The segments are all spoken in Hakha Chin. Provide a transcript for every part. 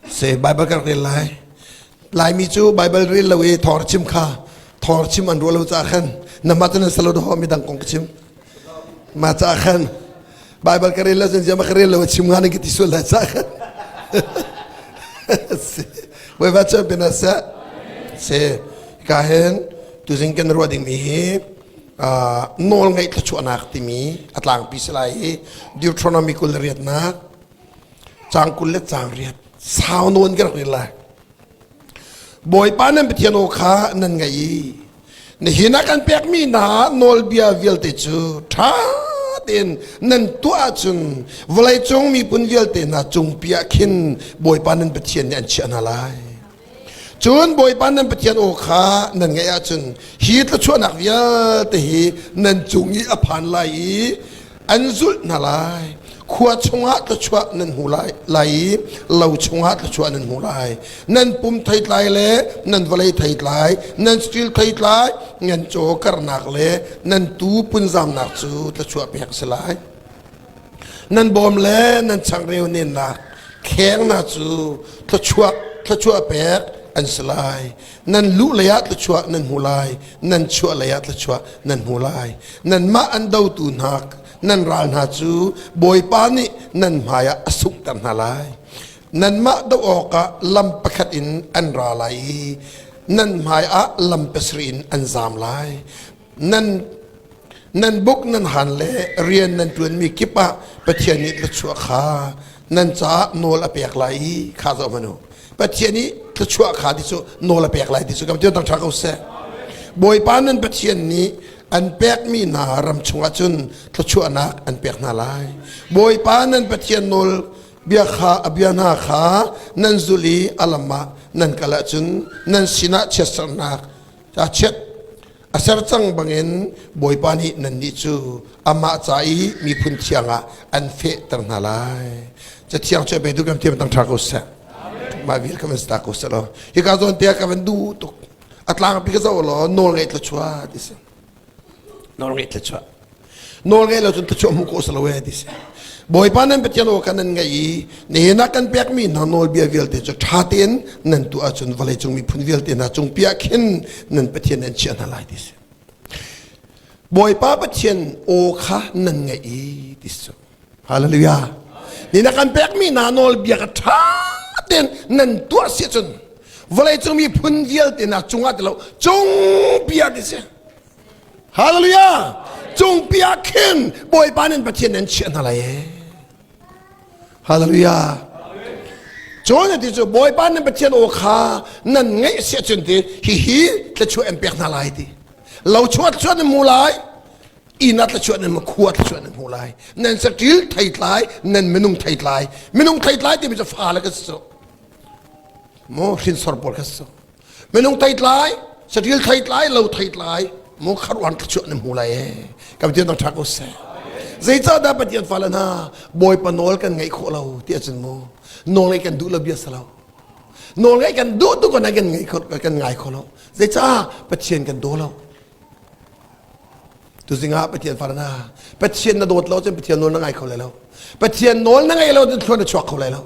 Se Baibal kan rel lai. Laimi cu Baibal rel lo i thawr chim kha thawr chim an ruah lo caah khan na mah tunan salo dawh mi dang kong ka chim. Ma caah khan Baibal ka rel lo zan zama ka rel lo chim ngan ki ti sual la caah khan. Voi va cha pina sa. Se ka hen tu zin kan ruah ding mi hi nawl ngeih thluachuahnak timi a tlangpi si lai i Deuteronomy kul riatnak Caang kul le caang riat sau nawn ka rak rel lai. Bawipa nan Pathian aw kha nan ngaih i nihin ah kan pekmi hna nawlbia vialte cu ṭha tein nan tuah ahcun vawleicung miphun vialte hna cungpi ah khin Bawipa nan Pathian nih an chiah hna lai. Cun Bawipa nan Pathian aw kha nan ngaih ahcun hi thluachuahnak vialte hi nan cung i a phan lai i an zulh hna lai. Khua chungah thluachuah nan hmu lai, lai i lo chungah thluachuah nan hmu lai. Nan pum theitlai le nan vawlei theitlai, nan stil theitlai, nan caw karnak le nan tuu punzamnak cu thluachuah pek a si lai. nan bawm le nan changreu nennak khengna cu thluachuah thluachuah pek an si lai nan lu leiah thluachuah nan hmu lai nan chuah leiah thluachuah nan hmu lai nanmah an dotu hna nan ral hna cu bawipa nih nan hmaiah a sunghter hna lai nanmah doh awkah lam pakhat in an ra lai i nan hmaiah lam pasarih in an zam lai nan buk nan han le rian nan ṭuanmi kip ah Pathian nih thluachuah kha nan caah nawl a pek lai i kha zoh hmanu Pathian i thluachuah kha ti cu nawl a pek lai ti cu kan ti dang ṭha ko seh Bawipa nan Pathian nih an pekmi hna ram chungah cun thluachuahnak an pek hna lai Bawipa nan Pathian nawl bia kha a bia hna kha nan zulh i a lam ah nan kal ahcun nan sinah chiatsernak ca chiat a ser cang bangin Bawipa nih nannih cu amah ca i miphun thiang ah an fehter hna lai cathiang cu beitu kan thiam tang ṭha ko seh mah vial ka van sta ko seh law hika zawn te ka van duh tuk a tlang pi ka zo law nawl ngeih tla chua ti si nawlngaih thla chuah nawlngaih lo cun thachuah hmu ko salo e ti si bawipa nan pathian aw kan nan ngaih i nihin ah kan pekmi hna nawlbia vialte cu ṭha tein nan tu ahcun vawlei cung miphun vialte hna cung piah khin nan pathian nan chiah hna lai ti si bawipa pathian aw kha nan ngaih i ti si Hallelujah. Ni na kan pekmi hna nawlbia ka ṭha tein nan tuar si cun vawlei cung miphun vialte na cungah ti lo cung bia ti si. Hallelujah. Cung bia khin Bawipa nin Pathian nan chiah hna lai. Hallelujah. Cun ti cu Bawipa nan Pathian aw kha nan ngaih si cun ti hi hi thla chuah an pek hna lai ti. Lo chuat chuat mu lai. ina tlachuah nan makhua tlachuah nan hmu lai nan saṭil theitlai nan minung theitlai minung theitlai timi cu fa le ka si mo hrinsor pawl ka si minung theitlai saṭil theitlai lo theitlai mo kharuan tlachuah nan hmu lai kam ti dang ṭha ko se zeicah dah pathian fale hna bawipa nawl kan ngaih khawh lo ti acun mu nawl ngaih kan duh lo bia sa lo nawl ngaih kan duh tu kan kan ngaih kan ngai kho lo zeicah pathian kan daw lo Tuzing ah Pathian farna Pathian na dawt lo cun Pathian nawl na ngai kho lai lo Pathian nawl na ngai lo cun thluan na chuak kho lai lo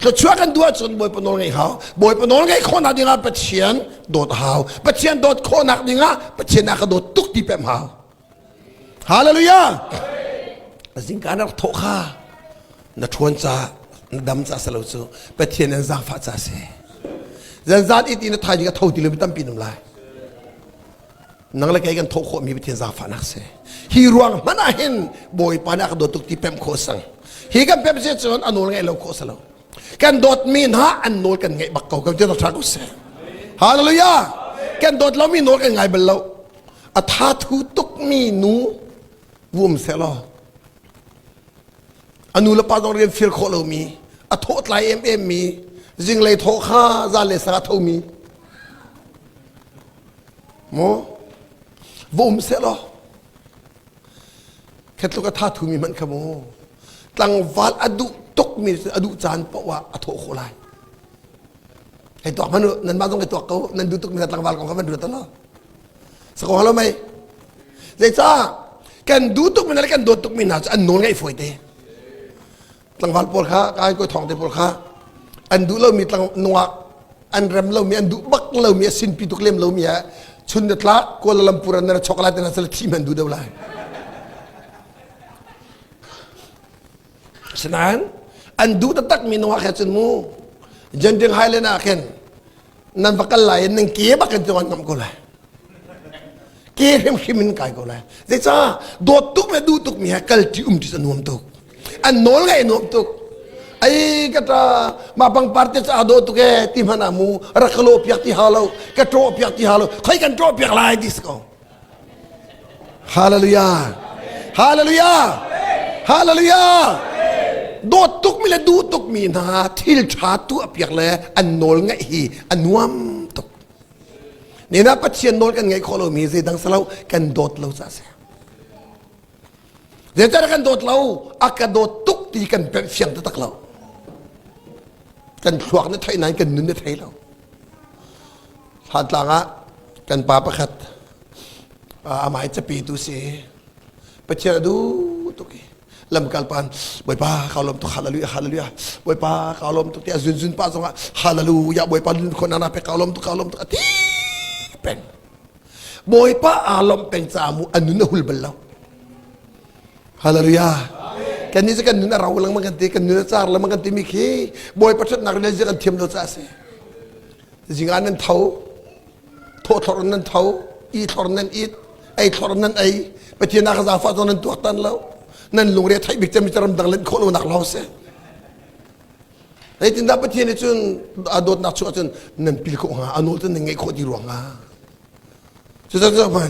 Thluachuah kan duh ahcun Bawipa nawl ngai hau Bawipa nawl ngai khawhnak dingah Pathian dawt hau Pathian dawt khawhnak dingah Pathian a ka dawt tuk ti pem hau Hallelujah Zingka na rak thawh kha na ṭhawn ca na dam ca si lo cu Pathian in zaangfah ca si zan zan i ti na thaimi ka tho ti lo mi tampi nam lai nang le kei kan thawh khawhmi Pathian zaangfahnak si hi ruang hmanh ah hin Bawipa nih a ka dawt tuk ti pemh khawh sang hi kan pemh si cun a nawl ngaih lo khawh si lo kan dawtmi hna an nawl kan ngaih bak ko kan tia ṭha ko sih hallelujah kan dawt lomi nawl kan ngai bal lo a tha thu tukmi nu wum se law a nu le pa zong rian feel khawh lomi a thawh tlai em em mi zinglei thawh kha zan le sang a thomi mo va um selaw khetluk a tha thumi hmanh kha mu tlangval a duh tukmi a duh caan poah ah a thawh khawh lai hei tuak hmanu nan ma zong hei tuak ko nan duh tukmi tlangval kong kha van ruat lo Sako halo mei. Zeicah kan du tuk mi le kan dawt tuk mi hna cu an nawl ngaih fawi te. Tlangval pawl kha kai ko thong te pawl kha an duh lo mi tlang nungak an rem lo mi an duh bak lo mi a sin pi tuk lem lo mi a chun ne tla Kuala Lumpur an na chok la te na sal thi man du deu lai. Sinain an duh tatak mi nungak he cun mu Janding Highland ah khin nan va kal lai in nan ke bak in cuan ngam ko lai ke hrimhrim in kai ko lai zeicah dawt tuk le duh tuk mi he kal ti um ti cu nuam tuk an nawl ngai nuam tuk ai ka ta ma pangpar te cha do tu ke ti mana mu rak lo piak ti ha lo ka tro piak ti ha lo khoi kan tro piak lai dis ko Hallelujah! Hallelujah! Hallelujah! Dawt tukmi le duh tukmi hna thil ṭha tu a piak le an nawl ngaih hi a nuam tuk. Nena Pathian nawl kan ngaih khawh lomi zeidang salo kan dawt lo ca a si. Zeiter kan dawt lo a ka dawt tuk ti kan perh fiang taktak lo kan thluak na theih nain kan nun na thei lo tlang ah kan pa pakhat amai capetu si pathian a duh tuk i lamkal pan bawipa kaulom tuk hallelujah hallelujah bawipa kaulom tuk ti a zunzun pa zongah hallelujah bawipa lun khon ana pe kaulom tuk kaulom tuk a ti peng Bawipa aa lawmh peng caah mu an nun a hul bal lo. Hallelujah. Kan nih kan nun a rau lengmang kan ti, kan nun a car lengmang kan timi khi Bawipa ṭhatnak rin kan thiam lo caah a si. Zinga nan tho, thawthlor nan tho, i thlor nan it, ei thlor nan ei, Pathian ah ka zafa zong nan tuaktan lo, nan lungre theih bik cem ram dang len khawh lonak lo si. Zeitindah Pathian nih cun a dawtnak chung ahcun nan pil khawh hnga, a nawl cu nan ngaih khawh ti ruang hnga. Cucaah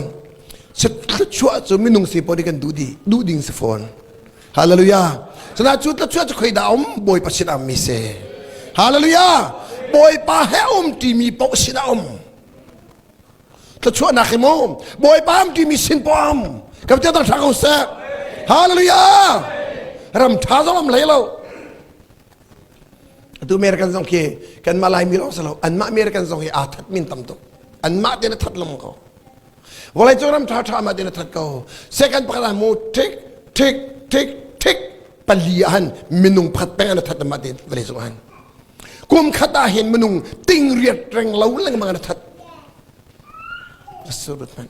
thluachuah cu minung si paoh nih kan duh dih, duh ding si fawn. Hallelujah. Cunak cu thluachuah cu khoi dah a um? Bawipa sin ah mi si. Hallelujah. Bawipa he a um timi paoh sin ah a um. thlachuahnak hi mu bawipa am timi sin poam ka te dang thla ko sek hallelujah ram tha zong am lei lo atu mer kan zong khi kan mah lai mi lawng salo an mah mer kan zong hi aa that min tam tuk an mah te na that lam ko vawlei cu ram tha tha ma te na that ko second pakhat mu tik tik tik tik pali ahan minung phat peng an that ma te vale sung han kum khat ah hin minung ting riat reng lo lengmang an that man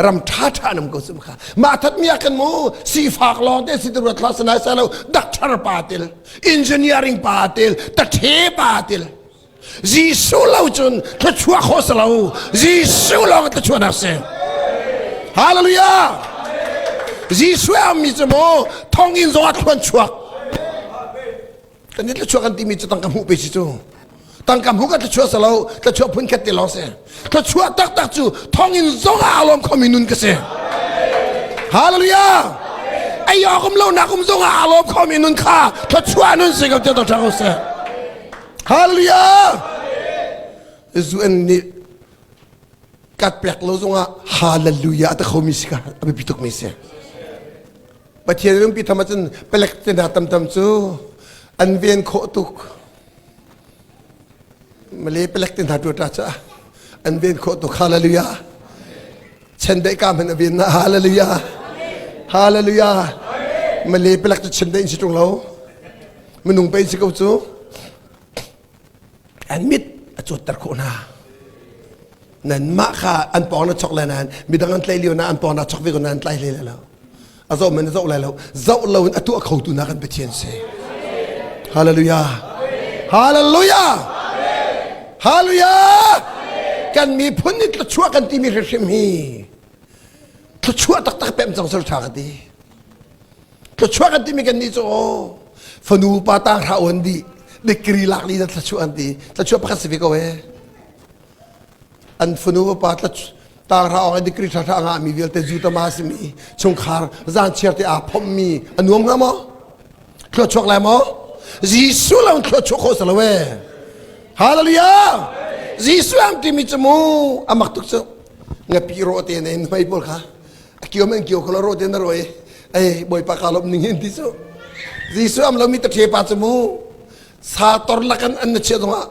ram tha tha nam ko sum kha ma that mi kan mo si fak long te si ruat la sanai sa lo doctor pa til engineering pa til ta the pa til Jesuh lo cun thluachuah kho si lo. Jesuh lawng thluachuahnak si. Hallelujah! Jesuh a ummi cu maw thonginn zongah thluan chuak. Kan i thluachuah kan timi cu tangka hmuh pe si cu. Tangka hmuh kan thluachuah si lo, thluachuah phun khat te lawng si. Thluachuah taktak cu thonginn zongah aa lawm khomi nun ka si. Hallelujah! Ei awk um lo nak um zongah aa lawm khomi nun kha thluachuah nun si ko tiah to ṭha ko seh. Hallelujah! Zuen nih kat pek lo zongah hallelujah ta khomi si ka a biapi tuk mi si. Pathian lungpi tham ahcun palek te hna tamtam cu an ven khawh tuk. Male palek te hna tuata cu an ven khawh tuk. Hallelujah! Chendeih ka hman a vin na hallelujah. Hallelujah. Male pelak cu chim da in si tung lo. Minung pe si ko cu. An mit a cawt ter khawh na. Nan mah kha an pong na chok le nan midang an tlai lio na an pong na chok ve ko nan tlai hle le lo. a zoh men a zoh lai lo zoh lo in a tuah khotu na kan Pathian si hallelujah hallelujah hallelujah kan miphun nih thluachuah kan timi hrim hi thluachuah taktak pem cang ser tha ka ti thluachuah kan timi kan ni cu oh fanu pa tang hra on di dekri lak li na thluachuah an ti thluachuah pakhat si ve ko ee an fanu upa tla tangra ong dikri thra nga mi vialte zu tama simi chungkhar zan chiarte a phom mi anuam nga mo thlo chuak lai mo jesu lang thlo chuak kho salowe hallelujah jesu am timi chu mu amak tuk chu ngapi ro te ne mai bol kha akio men kio kolo ro te na roi ai boy pa kalop ning hin ti chu jesu am lo mi ta the pa chu mu sa tor lakan an na che donga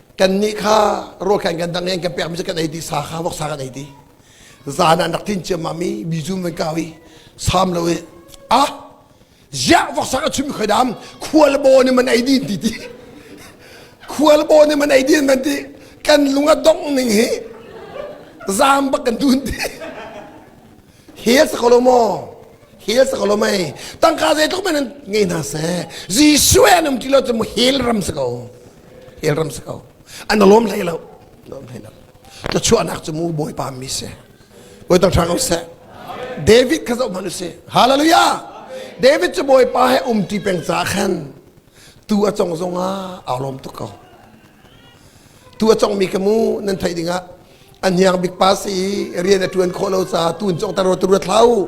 kannih kha ruahkhan kan dang in kan pekmi cu kan ei ti sa kha voksa kan ei ti zan ah rak tin ciammam i bijum van kau i sam lo i ah ya voksa ka chumi khoi dam khual bo ni man ei din ti ti khual bo ni man ei din van ti kan lung a dong ning hi zam bak kan dun ti hel sa kolo mo hel sa kolo mai tangka zei tok men nge na se jisue nam ti lo chu mu hel ram sa ko el ram sa ko an lawm hlei lo lawm hlei lo na chuahnak cu mu bawipa mi se bawi tang hrang seh david kha zoh hman u si hallelujah david cu bawipa he um ti peng ca khan tu a cong zong ah aa lawm tuk ko tu a cong mi ka mu nan theih ding ah an hiang bik pa si rian a tuan khawh lo ca tun cong taro tu ruat hlau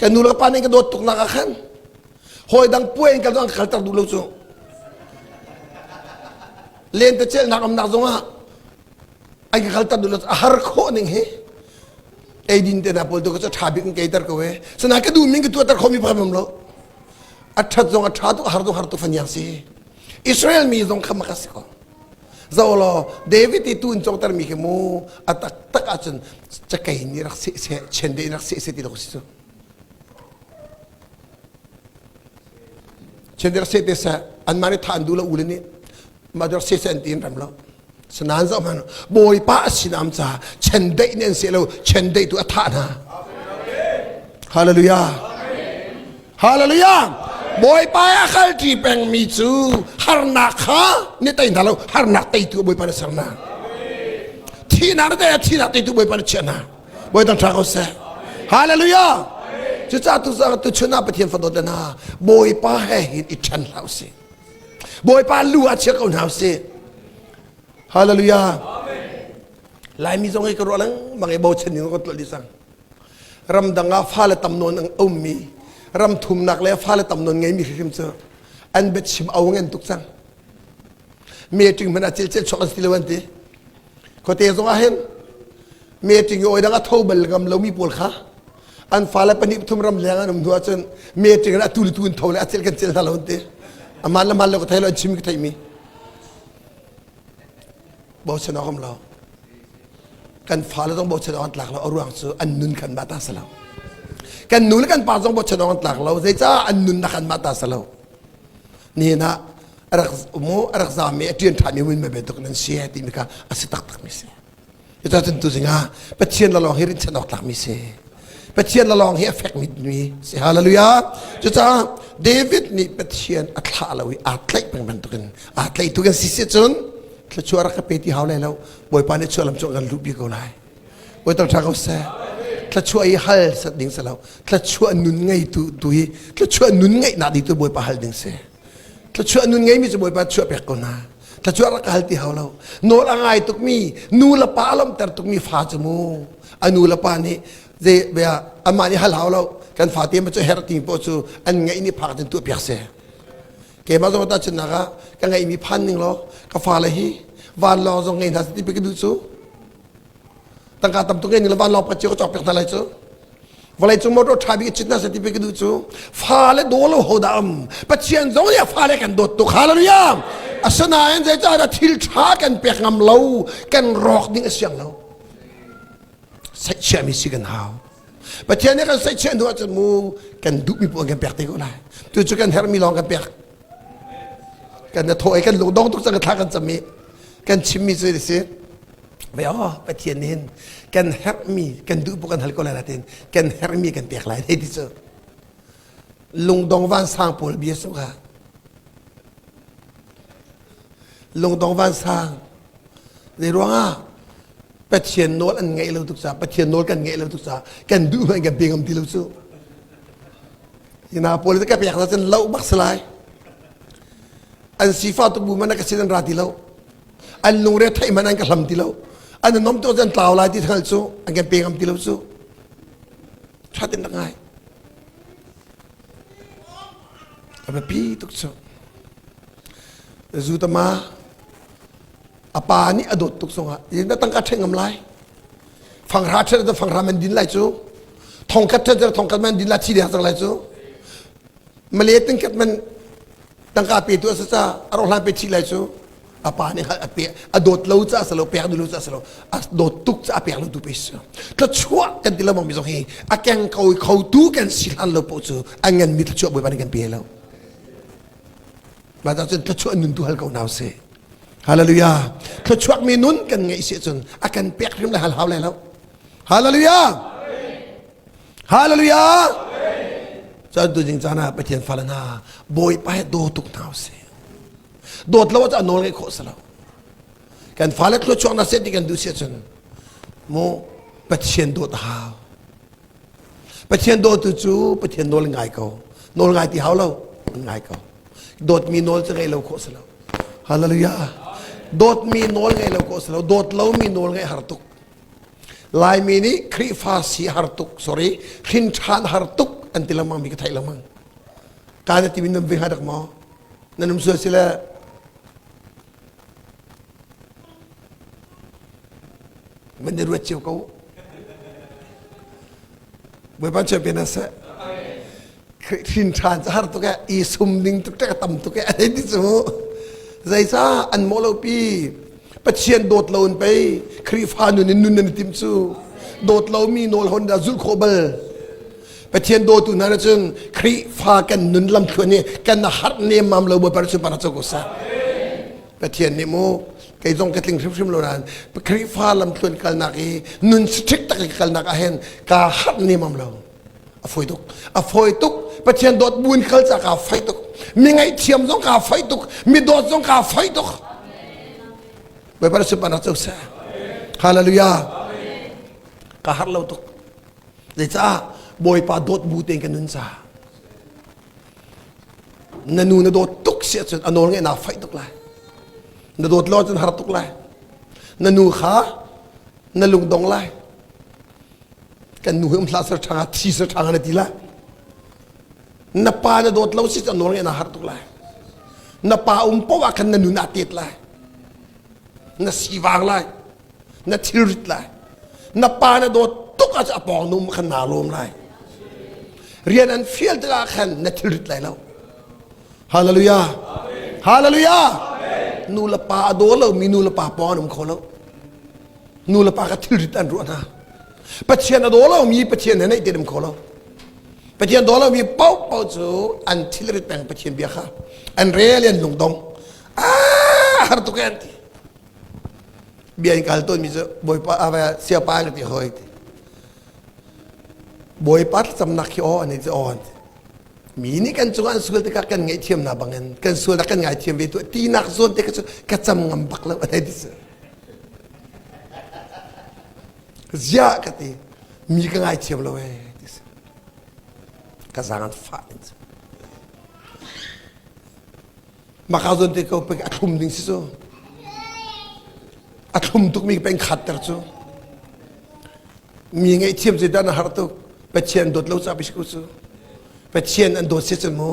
kan nu le pa nih kan dawt tuk nak ah khan hawi dang puai in kan an kalter duh lo cu lentecelhnak amnak zongah an ka kalter duh lo a har khawh ning hi eidin te na pol to ko tha bik in keiter ko e sana ka du min ka tuater khomi pham lo a that zong a tha tu har tu har tu faniang si israel mi zong kha maka si ko Zo law David i tun congter mi khi mu a taktak ahcun cakei ni rak seh seh chen de rak seh seh ti lo si cu. Chen de rak seh te seh an mah nih than du la u le nih ma rak seh seh an ti in ram lo. Sanan zo man bawipa a sinam ca chen deih ni an se lo chen deih tu a tha hna. Hallelujah. Hallelujah! Bawipa i a kalṭi pengmi cu harnak kha ni tei hna lo harnak teitu Bawipa na sernak thihnak te thihnak teitu Bawipa na chiah hna Bawi tang ṭha ko seh Hallelujah! Cucaah tu tu chun ah Pathian fadawt le hna Bawipa he hin i ṭhen hlah usih Bawipa lu ah chia ko hna usih Hallelujah! Laimi zong hi ka ruah lengmang i bochan ni ka tuah dih sang ramdang ah fale tam nawn a ummi ram thumnak le fale tam nawn ngeimi hrim cu an bet chim au ngen tuk cang meeting hman ah cel cel chok an si lo an ti khote zong ah hin meeting i oidang a tho bal ngam lomi pawl kha an fale pahnih pathum ram leng an um hnu ahcun meeting in a tuli tu in tho le a cel kan cel hna lo an ti aman le man le ko thei lo an chim ka theimi bochan awam lo kan fale zong bochan awk an tlak lo a ruang cu an nun khan mah ta sa lo kan nu le kan pa zong bochan awk an tlak lo zeicah an nun na khan mah ta sa lo ni na rak mu rak za mi a ṭian ṭha mi win me be tuk nan si ti mi kha a si tak tak mi si ita tun tu zinga pathian la long hi rin chan awk tlak mi si pathian la long hi a fek mi mi si hallelujah cucaah david nih pathian a thlah lo i aa tlaih peng bantukin aa tlaih tu kan si se cun thluachuah rak ka pe ti hau lai lo Bawipa nih chuahlam cu kan luhpi ko lai. Bawi tok ṭha ko seh. Thluachuah i hal sat ding si lo. Thluachuah nun ngeitu tu hi thluachuah nun ngeihnak ding tu Bawipa hal ding si. Thluachuah nun ngeimi cu Bawipa chuah pek ko hna. Thluachuah rak hal ti hau lo. Nawl a ngai tukmi, nu le pa a lawmhter tukmi fa cu mu. A nu le pa nih zei bia anmah nih hal hau lo. Kan fate ma cu herh timi poah cu an ngeih nih phak in tuah piak seh. keimah zong ta chunnak ah ka ngeihmi phan ning law ka fale hi van lawng zong ngei hna ti pe ka duh cu tangka tam tuk ngei van lawng pacio ka cawk pek hna lai cu vawlei cung motor tha bik chin hna se ti pe ka duh cu fale dawlo ho da am pathian zong nih fale kan dawt tuk hallelujah asinain zeicah dah thil tha kan pek ngam lo kan rawk ding a siang lo chiami si kan hau Pathian nih kan saih chih hnu ahcun mu kan duhmi puan kan pek te ko lai tu cu kan hermi lawng kan pek kan na thaw i kan lung dong tuk cang thla kan cam i kan chimmi cu si ve aw pathian nih hin kan hermi kan duh pu kan hal ko lai la tin kan hermi kan pek lai te ti cu lungdong vansang pawl bia su kha Lungdong vansang. Zeiruangah Pathian nawl an ngaih lo tuk caah Pathian nawl kan ngaih lo tuk caah kan duh hmanh kan pe ngam ti lo cu. Hina pawl ka pek na cun lo bak si lai. An sifah tu bu man na ka si nan ra ti lo. An lungre theih man an ka hlam ti lo. An nom to zan tlau lai ti thal cu an kan pe ngam ti lo cu. That in ngai. A biapi tuk cu. Zutama a pa nih a dawt tuk zongah in tangka ṭheng ngam lai fanghra ṭhet le fanghra man din lai cu thongkat ṭhet le thongkat man din lai thi deh cang lai cu male tingkat man tangka pe tu asasa arohlan pe thi lai cu a pa nih a pe a dawt lo ca asalo pek dulu ca asalo a dawt tuk ca a pek lo tu pe si tla chuah kan ti lo mong mi zong hi a keng ko kho tu kan si hlan lo po cu a ngan mi tla chuah boi ban kan pe lo Mah cun thluachuah nun tu hal ko nau si. Hallelujah. Thluachuak mi nun kan ngeih si cun a kan pek hrim le hal hau lai lo. Hallelujah. Hallelujah. Cun tu jing caan ah Pathian fale hna bawipa he do tuk nau si. Dawt lo ah nawl ngai khawh si lo. Kan fale thluachuak na set ti kan duh si cun mu Pathian dawt a hau. Pathian dawtu cu Pathian nawl ngai ko. Nawl ngai ti hau lo. Ngai ko. Dawtmi nawl cu ngei lo khawh si lo. Hallelujah. Dawtmi nawl ngei lo khawh si lo. Dawt lomi nawl ngeih har tuk. Laimi nih Khrihfa si har tuk, sorry, hrin ṭhan har tuk an ti lengmang mi ka theih lengmang. Ka na ti min nan ving ha dak maw? Nan um sual si le Man i ruat cio ko. Bawipa champion as seh. Hrin ṭhan ca har tuk e, i sum ning tuk tek tam tuk e, hei ti cu. Zeisa an mawh lo pi. Pathian dawt lo in pei Khrihfa nun in nun nan i tim cu. Dawt lo mi nawl hon da zulh khawh bal. Pathian dawtu hna cun Khrihfa kan nun lamthluan i kan har nemam lo babar cu mana co sa Pathian nih mu kei zong ka tling hrimhrim lo ran Khrihfa lamthluan kalnak i nun strict tak kalnak ahen ka har nemam lo a foi tuk a foi tuk Pathian dawt buin kal ca ka fai tuk mi ngaihthiam zong ka fai tuk mi dawt zong ka fai tuk babar su mana co sa Hallelujah ka har lo tuk Zeicah Bawipa dawt bu tein kan nun ca na nu na dawt tuk si ahcun a nawl ngaih naa faih tuk lai na dawt lo cun har tuk lai na nu kha na lungdong lai kan nu hi um hlah sir ṭhanga thi sir ṭhanga na ti lai na pa na dawt lo si cun nawl ngaih naa har tuk lai na pa um paoh ah khan na nun ah tet lai na si vang lai na thilrit lai na pa na dawt tuk ah a pawng nung khan naa lawm lai rian an fial tikah khan na thilrit lai lo hallelujah hallelujah nu le pa a daw lo mi nu le pa pawng an um kho lo nu le pa ka thilrit an ruah hna pathian a daw lo mi pathian na neih te dem kho lo pathian daw lo mi pau pau cu an thilrit peng pathian bia kha an rel in lungdong ah har tuk an ti bia in kal tawnmi cu bawipa siapa na ti hoi ti bawipa thlacamnak hi aw an i cu awn mi nih kan cungah an sual tikah kan ngaihthiamnak bangin kan sualnak kan ngaithiam ve tu tinak zawn te cu ka cam ngam bak lo a ti ziah ka ti mi ka ngaithiam lo e ka zang an fah Maka zon te ko pek a thlum ding si cu. A thlum tuk mi peng khat ter cu. Mi ngai thiam se dan a har tuk. Pathian dawt lo ca bishku cu. Pathian an dawt se cun mu.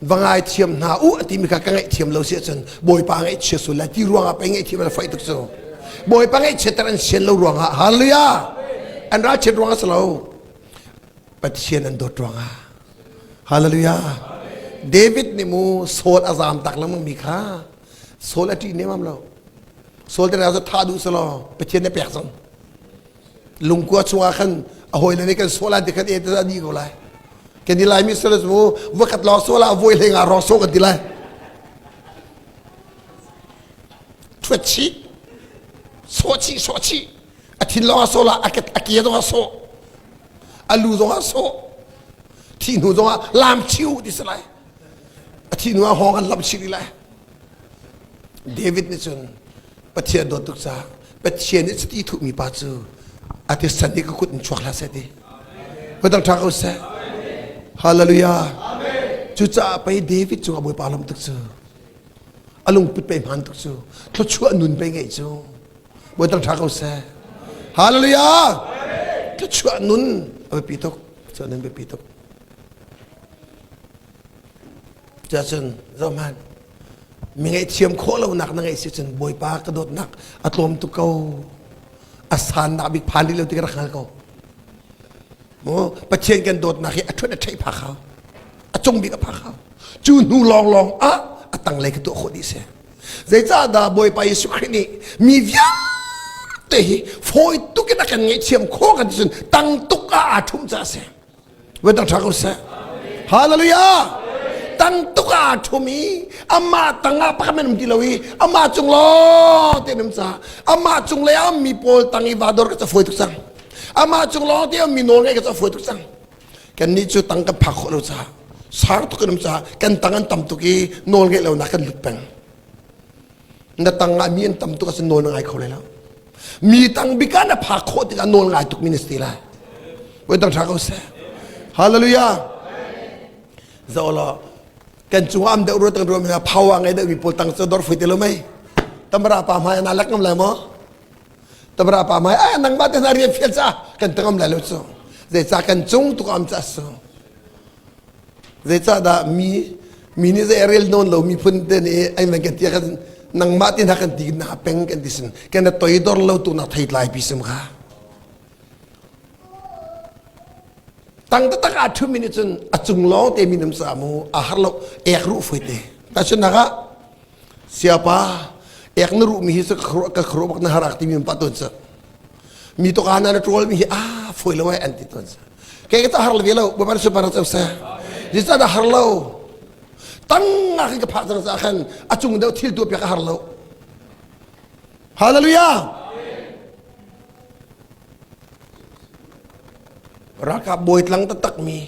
Vangai thiam hna u a ti mi ka ka ngai thiam lo se cun Bawipa ngai chia sul la ti ruangah pei ngai thiam an fai tuk cu. Bawipa ngai chia ter an sian lo ruangah hallelujah. An ra chiat ruangah si lo. Pathian an dawt ruangah. Hallelujah. David nih mu Saul a zam tak lengmang mi kha Saul a ṭih nemam lo. Saul te ra thah duh selaw Pathian ne pek cang. Lungkua chungah khan a hawile nih kan Saul an ti khan e te a ni ko lai. Kan ti lai mi sala mu vakat lor Saul a voi le nga ro so kan ti lai. Thuet chi so chi so chi a thin long a so la a ke a ke dong a so a lu zongah sawh thi hnu zongah lam chiu ti si lai a thi hnu ah hawng an lam chih dih lai david nih cun pathian dawt tuk caah pathian nih cuti thuhmi pa cu a ti san i ka kut in chuak hlah seh ti hudang ṭha ko seh hallelujah cucaah pei david cungah bawipa lawm tuk cu a lungput pei hman tuk cu thluachuah nun pei ngei cu buaitak ṭha ko seh hallelujah ka chuah nun a biapi tuk chuah nun biapi tuk cun zohman mi ngaihthiam khawh lonak na ngeih si cun bawipa ka dawtnak a tlawm tuk ko a san nak bik phan rih lo ti ka rak hngal ko mu pathian kan dawtnak hi a ṭhuat a ṭheih phak hau a cung bik a phak hau cu hnu lawng lawng ah a tanglei ka tuah khawh dih seh zeicahdah bawipa jesuh khrih nih mi vialte hi fawi tuk in a kan ngaihthiam khawh kan cun tang tuk ah aa ṭhum ca a si voi tang ṭha ko seh hallelujah tang tuk ah aa ṭhum i amah tang ah pakhat men um ti lo i amah cung lawng te um ca amah cung lei ah ummi pawl tang i va dor ka ca fawi tuk cang amah cung lawng te ummi nawl ngeih ka ca fawi tuk cang Kannih cu tang kan phak khawh lo caah sang tuk kan um caah kan tang an tam tuk i nawl ngeih lonak kan lut peng. Na tang ah mi an tam tuk ahcun nawl na ngai kho lai lo. Mi tang bik ah na phak khawh tikah nawl ngai tuk mi na si lai. Voi tam ṭha ko seh. Hallelujah. Za law kan cungah am deuh ruat kan ruam hna phawa ngai deuh mi pawl tang cu dor fui te lo mei. Tamara pa hmai na lak ngam lai maw? Tabra pa mai ah nangmah te hna rian fial ca kan tangam lai lo cu zeicah kan cung tuk am ca su zeicah dah mi mi nih zei rel nawn lo miphun te nih ai men kan tia kan nangmah te hna kan ti na peng kan ti sin kan toi dor lo tu na thei tlai pi sum kha tang ta tak a thu min cun a cung long te min am sa mu a har lo ek ru foi te ta chun na ga siapa ek na ruh mi hi sa ka khru bak na harak ti mi pa ton sa mi to kana na trol mi hi a foi lo ai an ti ton sa ke ka ta har le lo ba bar se bar sa sa ji sa da har lo tang nga ka pha sa sa khan a chung deu thil tu pya ka har lo hallelujah raka boy tlang ta tak mi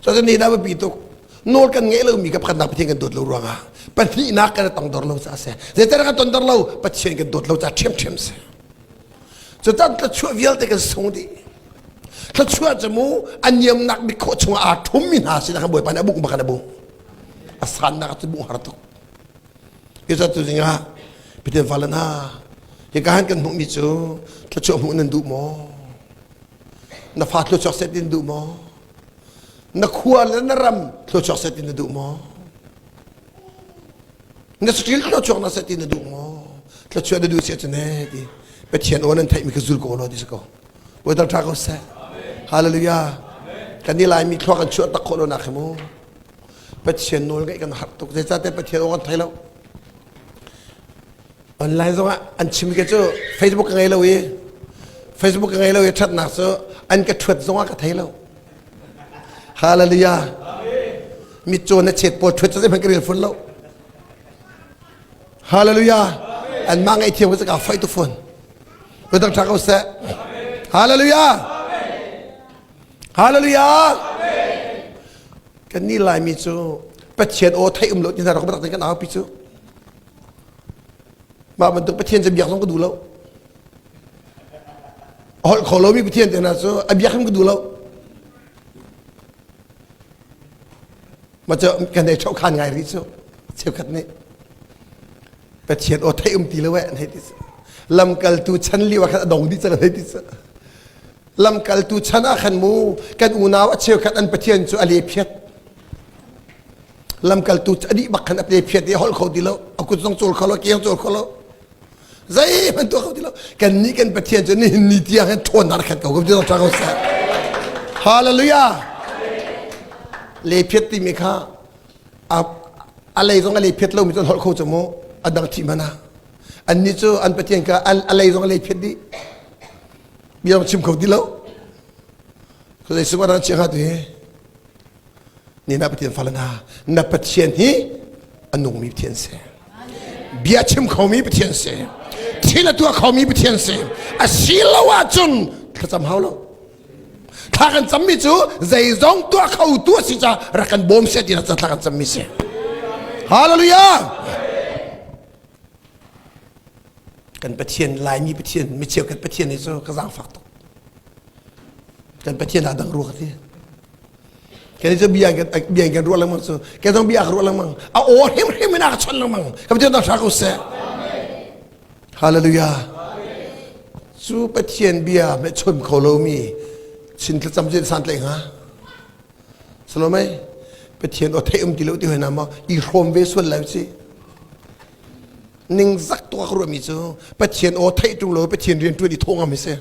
So kan nih dah biapi tuk. Nawl kan ngeih lomi ka pakhatnak Pathian kan dawt lo ruangah pahnihnak kan tongdor lo caah a si. Zeitan kan tonter lo Pathian kan dawt lo caah ṭhiamṭhiam si. Cutan thluachuah vialte kan sung dih. Thluachuah cu mu aniamnak bik khawh chungah aa ṭhummi hna sinah kan Bawipa nih a buk bak kan a bu. A sannak cu buh har tuk. Yesu tu zingah Pathian fale hna, hi ka han kan hmuhmi cu thluachuah hmuh nan duh maw? na fa thluachuak set in duh maw na khua le na ram thluachuak set in na duh maw na saṭil thluachuak na set in na duh maw thluachuah na duh si ahcun e ti pathian aw nan theihmi ka zul ko law ti si ko voi dang ṭha ko seh hallelujah kan i laimi thluak kan chuah tak khawh lo nak hi mu pathian nawl ngeih kan harh tuk zeicahte pathian aw kan thei lo online zong ah an chim ke cu facebook ka ngei lo i facebook ka ngei lo i ṭhatnak cu an ka ṭhuat zong ah ka thei lo hallelujah mitcaw na chet pawl ṭhuat cu zeihmanh ka rel fun lo hallelujah an mah ngei thiam cu ka fight to phone kudang ṭha ko seh hallelujah hallelujah kan ni lai mi cu pathian aw thei um lo ti hna rak batak kan au pi cu Mah bantuk Pathian cu biak zong ka duh lo. A holh kho lomi Pathian te hna cu a biak hrim ka duh lo. Maca kan hei chohkhan ngai rih cu cheukhat nih Pathian aw theih um ti lo eh an hei ti cu lamkaltu chan lio ah khan a dong dih cang an hei ti cu lamkaltu chan ah khan mu kan unau a cheukhat an Pathian cu a lephiat lamkaltu a dih bak khan a te phiat i holh kho ti lo a kut zong cul kho lo kiang cul kho lo zeihman tuah kho ti lo kan nih kan pathian cu nihin ni tiang hin ṭhawn nar khat ko ko tra ko sah hallelujah le phiat ti mi kha a a lei zong a le phiat lomi cun holh kho mu a dang thi mana an ni cu an pathian ka a lei zong a le phiat di bia chim kho ti lo ko zei sungwa rang chiang ha tu hi ni na pathian fale hna na pathian hi a nungmi pathian si bia chim khomi pathian si thil a tuah khomi pathian si a si lo ahcun thlacam hau lo thla kan cammi cu zeizong tuah kho tu a si ca rak kan bawm se tina thla kan cammi si hallelujah kan pathian laimi pathian micheu kan pathian hi cu ka zang fak tuk kan pathian aa dang rua ka ti ke cu bia ke bia ke ruah lengmang cu ke zong bia ka ruah lengmang a o him him ina ka chon lengmang ka ti ta sha ko se hallelujah cu pathian bia me chon kho lo mi chin tla cham je san tle nga salomai pathian o thei um ti lo ti hoi na ma i hrom ve sual lai si ning zak to ka ruah mi cu pathian o thei tung lo pathian rian tuan i thong am hi se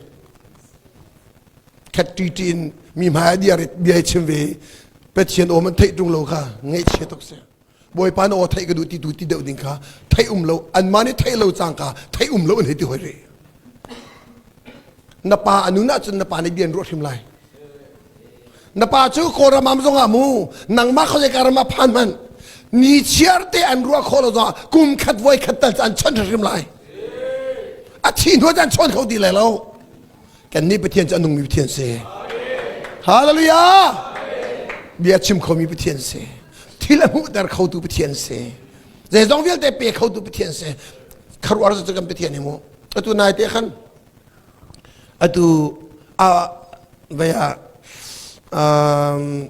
khat ṭiti in mi hmai ah diarit bia i chim ve Pathian awm an theih ṭung lo kha ngaihchia tuk si Bawipa na aw theih ka duh ti tu ti deuh ding kha theih um lo anmah nih theih lo cang ka theih um lo an hei ti hoi re na pa anu na cun na pa nih bian ruah hrim lai na pa cu kawram am zong ah mu nangmah khawzei karam ah phan man ni chiar te an ruah kho lo zong kum khat voi khat tal an chon hrim lai a thi hnuah an chon kho ti lai lo Kannih Pathian cu a nungmi Pathian si. Hallelujah! Bia chim khomi Pathian si. Thil a hmuhter khotu Pathian si. Zeizong vialte pe khotu Pathian si. Kharuar cu kan Pathian hi mu. Atu nai te khan atu a vai a um,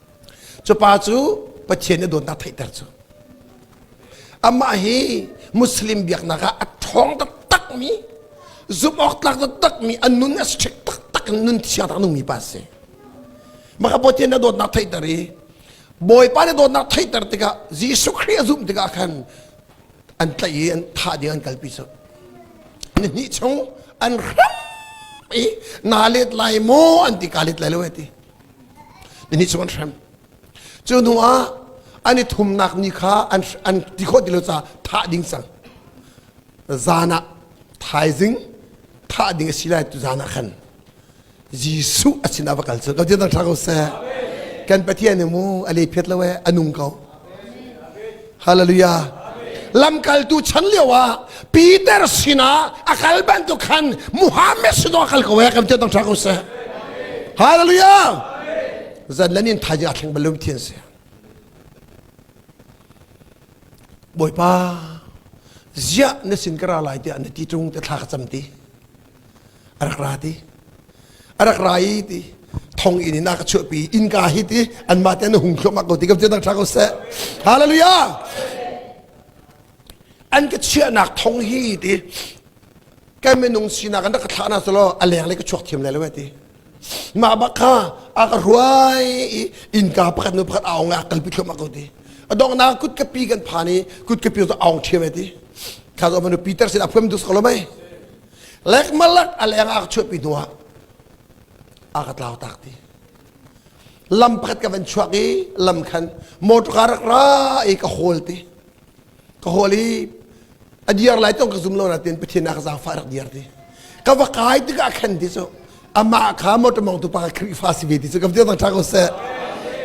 Cupa cu Pathian nih dawtnak theihter cu. Amah hi Muslim biaknak ah a ṭhawng taktakmi, zumhawk tlak taktakmi, a nun a strict taktak in nun thiangtak nungmi pa si. Maka Pathian nih dawtnak theihter i Bawipa nih dawtnak theihter tikah Jesuh Khrih a zumh tikah khan an tlaih i an thah ding an kalpi cu. Nihnih chung an hram i naa let lai maw an ti kaa let lai lo ti. Ni chung an hrem. Cu hnu ah an i thumnak ni kha an, an ti khawh ti lo caah thah ding cang. Zan ah thaizing thah ding a si lai tu zan ah khan Jesuh a sinah va kal cu ka dir thang ko seh kan Pathian nih mu a le phet lo e a nung ko Hallelujah. Lamkaltu chan lio ah Peter sinah a kal bantuk khan Muhammad sinah a kal ko he kan tia tang ko seh. Hallelujah. Zan lan in thai a thleng balum thian se. Boipa, zia na sin kara lai ti na ti chung te thla ka cham ti. a rak ra ti a rak ra i ti thong in in a ka chuahpi innka hi ti an mate an hung thlum ko ti ka tia dang tra ko seh hallelujah an ka chiahnak thong hi ti kan minung sinak an rak ka thlah na solo a leng le ka chuak thiam le lo ti mah bak kha a ka ruai i innka pakhat nu pakhat aung a kalpi thlum ko ti adongna kut ka pi kan phan i kut ka pi zu aung thiam ti kha zo manu peter sin aphum dus ko lo mai lekmalak aleng ak chuahpi hnu ah a ka tlau tak ti lam pakhat ka van chuak i lam khan motor car rak ra i ka hawl ti ka hawl i a diar lai tong ka zum lo na tin pathin ak zafa rak diar ti ka va kai ti ka khan ti so ama kha motor mong tu pa ka krifa si ve ti so ka veo tang tha ko se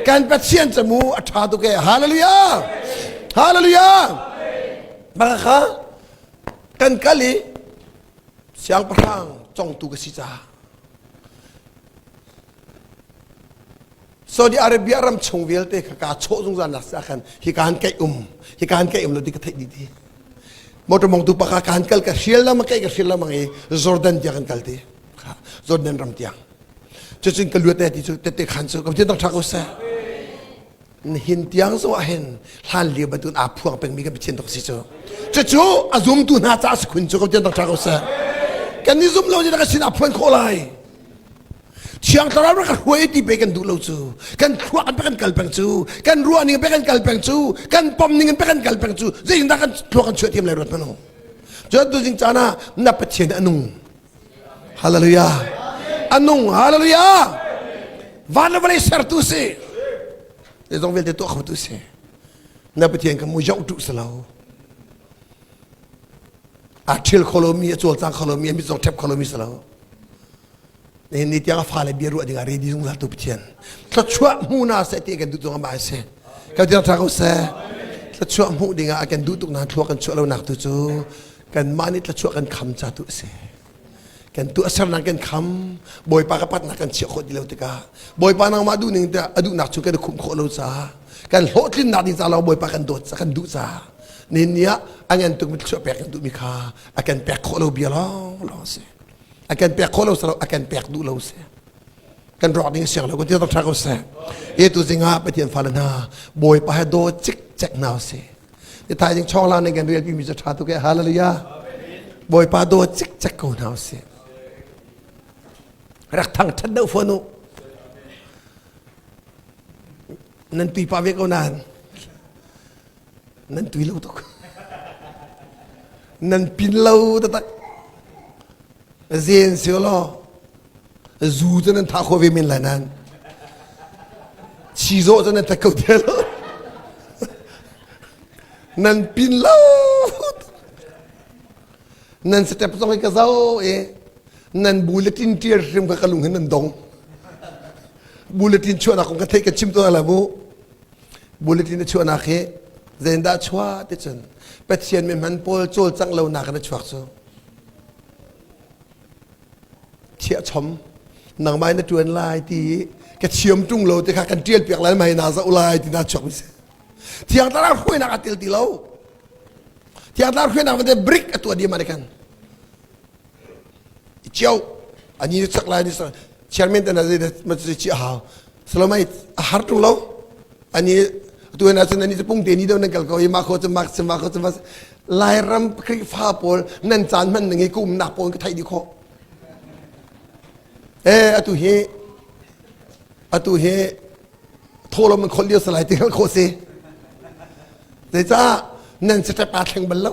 kan pathian chamu a tha tu ke hallelujah hallelujah baka kha kan kal i siangpahrang congtu ka si caah Saudi Arabia ram chung vialte kha kaa chawh zungzal nak ah khan hika han kaih um hika han kaih um lo ti ka theih dih ti motor mongtu paka ka han kal ka hrial lama kaih ka hrial lama ngai Jordan tiang kan kal ti Jordan ram tiang cucun ka luat te ti cu tete khan cu ka ti dang thak u se Nihin tiang zong ah hin hlanlio bantukin aa phuang pengmi kan Pathian tuk si cu. Cucu a zumtu hna caah si khun cu ko tiang rak ṭha ko seh. Kan ni zumh lo cu ka sin aa phuan khawh lai. Thiang thlarau rak ka hruai ti pe kan duh lo cu. Kan thluak in pe kan kal peng cu. Kan ruah ning in pe kan kal peng cu. Kan pom ning in pe kan kal peng cu. Zeitindah kan thluak kan chuah thiam lai ruat hmanung. Cu tu jing caan ah na Pathian a nung. Hallelujah. A nung. Hallelujah. Van le vawlei sertu si. Le zong vialte tuah khotu si. Na Pathian ka mu zong tu si lo. A thil kholomi, a cawlcang kholomi, a mitzong thep kholomi si lo. Ni ni tiang a fale bia ruah dingah redi zung zaltu Pathian. Thluachuah hmu na se ti kan duh zong ba se. Ka tiang tha ko se. Thluachuah hmu dingah a kan duh tuk na thluak kan chuah lo nak tu cu kanmah nih tlachuah kan kham ca tu a si kan tu a sernak kan kham bawipa ka patnak kan chiah khawh ti lo tikah bawipa nangmah duhning tiah a duhnak cu kan i khumh khawh lo ca kan hlawhtlinnak ding ca lo bawipa kan dawt ca kan duh ca nin ni ah a ngan tukmi tlachuah pek kan duhmi kha a kan pek khawh lo bia lawng lawng a si a kan pek khawh lo salo a kan pek duh lo a si kan ruak ding siang lo kan tial tha ko seh e tu zinga pathian fale hna bawipa he do cik cek na si i thai jing chong la ne kan rel mi cha tha tu ke hallelujah bawipa do cik cek ko na si rak thang than do fonu nan tui pa ve ko nan nan tui lo tuk nan pin lo ta tak Zen sio law zu cu nan tha kho ve men lai nan. Chizawh cu nan tha kho te lo. nan pin lo. nan step zong hi ka zau e nan bulletin tier hrim kha ka lung hin nan dong bulletin chuahnak kong ka theih ka chim to la mu Bulletin a chuahnak hi zeindah chuah ticun Pathian mi hman pawl cawlcangh lonak in a chuak cu thiah chom nangmah na tuan lai ti ka thiam tung lo ti kha kan tial piak lai mai na za lai ti na chuak mi si thiang tara hruainak a til ti lo thiang tara hruainak vate brick a tua di ma kan Ciao. Ani na chak lai ni sang chairman tan azai ma chu chi ha. Salomai a har tu lo. Ani tu na chun ani pung te ni do nan kal ko ma kho chum mak chum ma kho chum lai ram kri fa pol nan chan man ngi kum nak pol ka thai di kho eh atu hi atu hi tholom khol liu salai tingal kho se te cha nan se ta thleng bal lo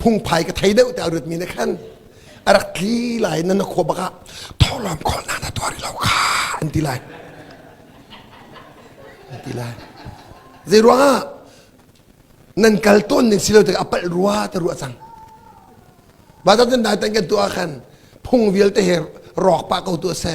phungphai ka thei deuh te a ruatmi ne khan a rak tli lai nan khua bak ah thawlawm khawl na na tuari lo kha an ti lai an ti lai zei ruang ah nan kal tawn ning si lo te apalh rua te ruah cang ba ta tan dai tan kan tu ah khan phung vialte he rawk pa ko tu a se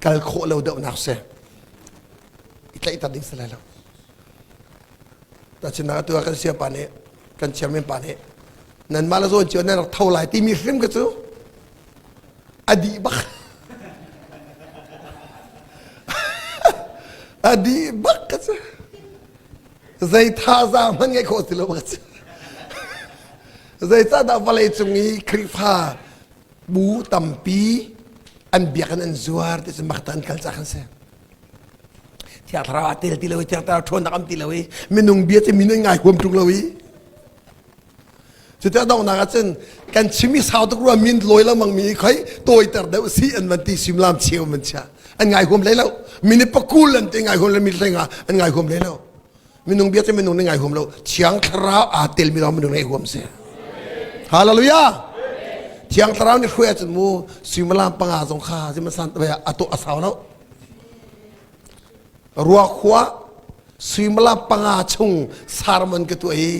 kal khawh lo deuhnak si i tlaihter ding si lai lo tachin na tu kan siam pa nih kan chairman pa nih nan mah la zawn cio nan rak tho lai timi hrim ka cu a di bak a di bak ka cu zei tha za man ngai khawh si lo ka cu zei ca dah vale cung i khrihfa bu tampi an biakinn an zuar ti cu makta an kal cak an si thiar thlarau ah tel ti lo i thiar thlarau ṭhawn nak am ti lo i minung bia cu minung ngai huam ṭung lo i cuti a donghnak ah cun kan chimi sau tuk ruam min lawi lo mang mi khoi tawiter deuh si an van ti suimlam cheu man chia an ngai huam hlei lo mini pakul an te ngai huam le mi hleng ah an ngai huam hlei lo minung bia cu minung nih ngai huam lo thiang thlarau aa telmi lawng minung ngai huam si hallelujah thiang thlarau nih hruai ahcun mu suimilam panga zong kha sihmansan a tuah a sau lo ruakhua suimilam panga chung sarman ka tuah i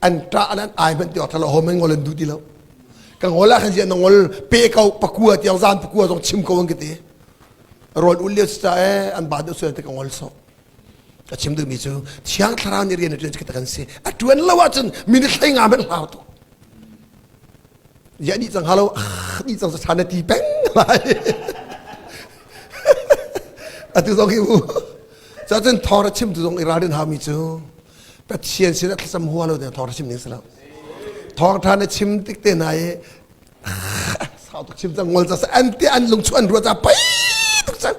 an ṭa an ai hman ti awk thalo hom an ngol an du ti lo ka ngol ah khan si na ngol pe ko pakua tiang zan pakua zong chim ko an ka ti rawl ul lio sa eh an ba deuh suan te ka ngol so ka chim duhmi cu thiang thlarau nih rian a ṭuan kan si a ṭuan lo ahcun minute hlei nga men hlau tu ya ni cang halo ni cang sa na ti peng lai atu zong hi u cha cun thor chim tu zong i ralrin hami cu pathian sin a thlasam hua lo te thor chim ning sala thor than a chim tik te na ye sau tuk chim cang ngol sa an te an lung chu an ruwa ta pai tuk cha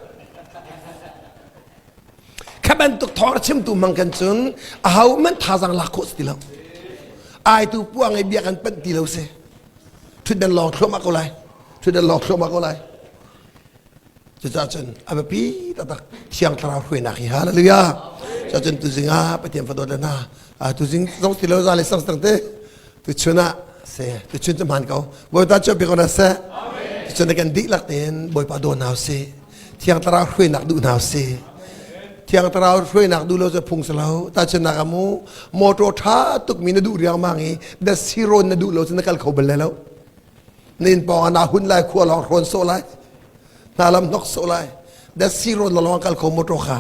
kha bantuk thawng chimtu mang kan cun a ho man thazang lak khawh ti lo ai tu puang ai bia kan panh ti lo se thut dan long thluam ko lai thut dan long thluam ko lai cuca cun abapi tatak siang thlarau hruainak hi hallelujah cuca cun tu zinga pathian fadawt le na tu zing zong ti lo za le sang sang te tu chun ah se tu chun tu man ko boi ta cho pi ko na se tu chun kan dik lak ten boi pa do naw se Thiang Thlarau hruainak duh hna si. Thiang Thlarau hruainak duh lo cu phung si lo. Ta cun nak amu motor tha tukmi na duh riangmang i da siron na duh lo cu na kal kho bal lai lo. Na in pawng na hun lai khua lawng hrawn so lai. Na lam hnok so lai. Da siron la lawng kal kho motor kha.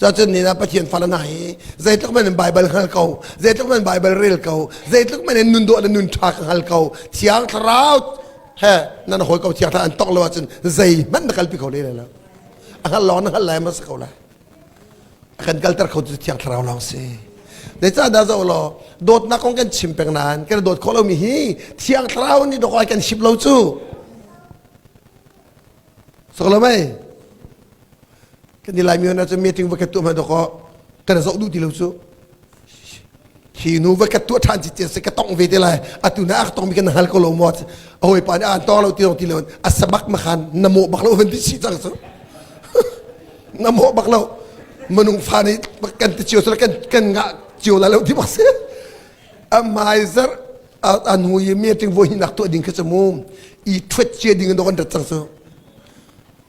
Cacun ni na Pathian fala hna hi zeitluk men in Bible hngal ko, zeitluk men Bible rel ko, zeitluk men in nun dawh le nun tha ka hngal ko, Thiang Thlarau he nan hawi ko thiang an tong lo ahcun zeihmanh na kalpi kho le le a hngal lawng na hngal lai ma si ko lai a kan kalter kho tu thiang thlarau lawng si dei ca da zo lo dawtnak kong kan chim peng nan kan dawt kho lomi hi thiang thlarau nih dokai kan ship lo cu so lo mei kan i laimi hna cu meeting va kat tu hman dawk kan zoh duh ti lo cu hi nu va kat tu than ci cia se ka tong ve te lai atu na ak tong mi kan hal ko lo mo a hoi pa ni an tong lo ti lo ti lo a samak ma khan na mo bak lo van ti si chang su na mo bak lo manung fa ni kan ti ciu sala kan kan nga ciu la lo ti ma se a maizer an hui meeting vo hi nak tu ding ka chamu i thwet cia ding don da chang su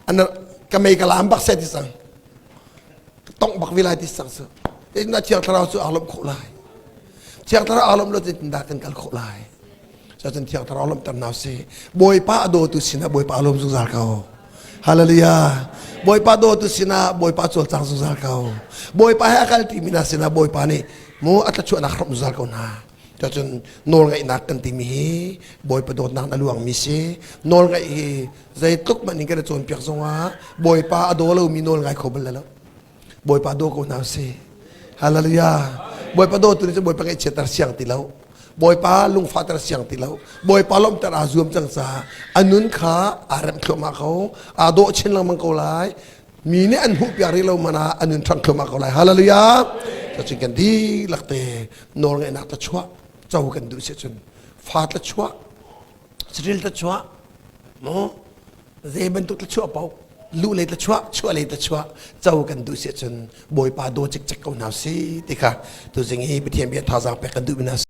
ana ka mei ka laam bak seh ti sang ka tongh bak vi lai ti sang su tinna thiang thlarau cu aa lomh khawh lai thiang thlarau aa lomh lo ti tinda kan kal khawh lai so cun thiang thlarau lomh ter nau si bawipa a dawtu sinah bawipa lom zungzal ko hallelujah bawipa dawtu sinah bawipa cawlcang zungzal ko bawipa he a kal timi hna sinah bawipa nih mu a tlachuahnak hrom zungzal ko hna Cacun nawlngaihnak kan timi hi Bawipa dawtnak a luangmi si. Nawlngaih hi zeitluk man in kan i cawnpiak zongah Bawipa a daw lomi nawl ngai kho bal lo. Bawipa daw ko hna si. Hallelujah. Bawipa dawtu nih cun Bawipa ngaihchiatter siang ti lo. Bawipa lungfahter siang ti lo. Bawipa lawmhter aa zuam cang caah a nun kha aa remh thluahmah ko. Aa dawh chin lengmang ko lai. mi nih an hmuhpiak rih lo man ah an in ṭhang thluahmah ko lai hallelujah cacin kan dihlak te nawl ngaihnak tla chuah co kan duh si cun fa tla chuah saril tla chuah mo ze bantuk tla chuah po lu lei tla chuah chuah lei tla chuah co kan duh si cun bawipa daw cik cek ko hna si ti kha tu zing hi pathian bia thazaang pek kan duh na